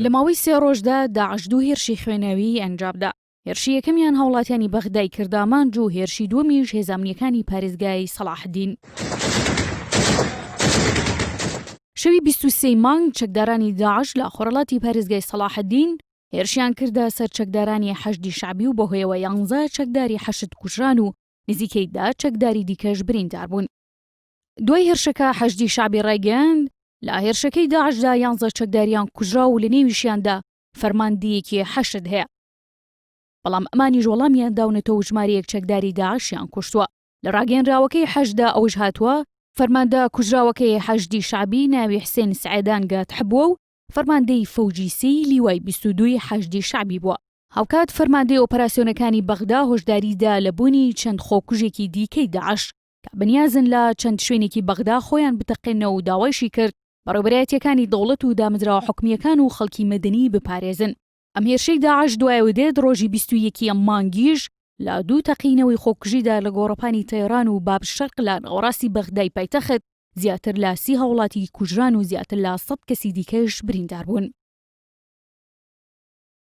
لە ماوەی سێ ڕۆژدا داعش دوو هێرشی خوێناویی ئەنجامدا. هێرشی یەکەمیان هاوڵاتیانی بەغدای کرد ئامانج و هێرشی دووەمیش هێزە ئەمنییەکانی پارێزگای سەڵاحەدین. شەوی بیست و سێی مانگ چەکدارانی داعش لە خۆرهەڵاتی پارێزگای سەڵاحەدین هێرشیان کردە سەر چەکدارانی حەشدی شەعبی و بەهۆیەوە یانزە چەکداری حەشد کوژران و نزیکەی دا چەکداری دیکەش بریندار بوون. دوای هێرشەکە حەشدی شەعبی ڕایگەیاند لە هێرشەکەی داعشدا یانزە چەکداریان کوژرا و لە نێویشیاندا فەرماندەیەکی حەشد هەیە بەڵام ئەمانیش وەڵامیان داونەتەوە ژمارەیەک چەکداری داعشیان کوشتووە لە ڕاگەنراوەکەی حەشدا ئەوش هاتووە فەرماندە کوژراوەکەی حەشدی شعبی ناوی حسێن سعێدان گات حبووە و فەرماندەی فەوجیسی لیوای 22 حەشدی شعبی بووە هاوکات فەرماندەی ئۆپەراسسیۆنەکانی بەغدا هۆشداریدا لە بوونی چەند خۆکوژێکی دیکەی داعش کە بەنیازن لە چەند شوێنێکی بەغدا خۆیان بتەقێنەوە و داوایشی کرد بەڕێوبەرایەتیەکانی دەوڵەت و دامەزراوە حکومییەکان و خەڵکی مەدەنی بپارێزن. ئەم هێرشەی داعش دوایەوە دێت، ڕۆژی بیست و یەک ی ئەم مانگیش لە دوو تەقینەوەی خۆکوژیدا لە گۆڕەپانی تەیڕان و باب شەرق لە ناوەڕاستی بەغدای پایتەخت زیاتر لە سی هاوڵاتی کوژران و زیاتر لە سەد کەسی دیکەش برینداربوون.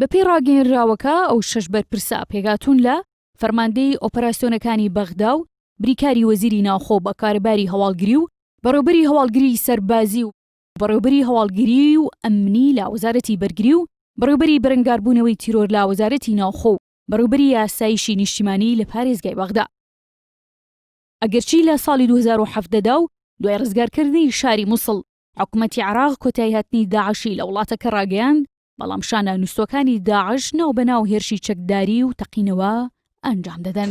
بەپێی ڕاگەیەنراوەکە، ئەو شەش بەرپرسە پێکهاتوون لە، فەرماندەی ئۆپەراسیۆنەکانی بەغدا و بریکاری وەزیری ناوخۆ بە کارەباری هەواڵگری و بەڕێوبەری هەواڵگریی سەربازی و بەڕێوبەری هەواڵگریی و ئەمنی لە وەزارەتی بەرگری و بەڕێوبەری بەرەنگاربوونەوەی تیرۆر لە وەزارەتی ناوخۆ و بەڕێوبەری ئاسایشی نیشتیمانی لە پارێزگای بەغدا ئەگەرچی لە ساڵی دوو هەزار و حەڤدە دا و دوای ڕزگارکردنی شاری موسڵ حکومەتی عێراق کۆتایهاتنی داعشی لە وڵاتەکە ڕاگەیاند، بەڵام شانە نووستوەکانی داعش ناو بەناو هێرشی چەکداری و تەقینەوە ئەنجام دەدەن.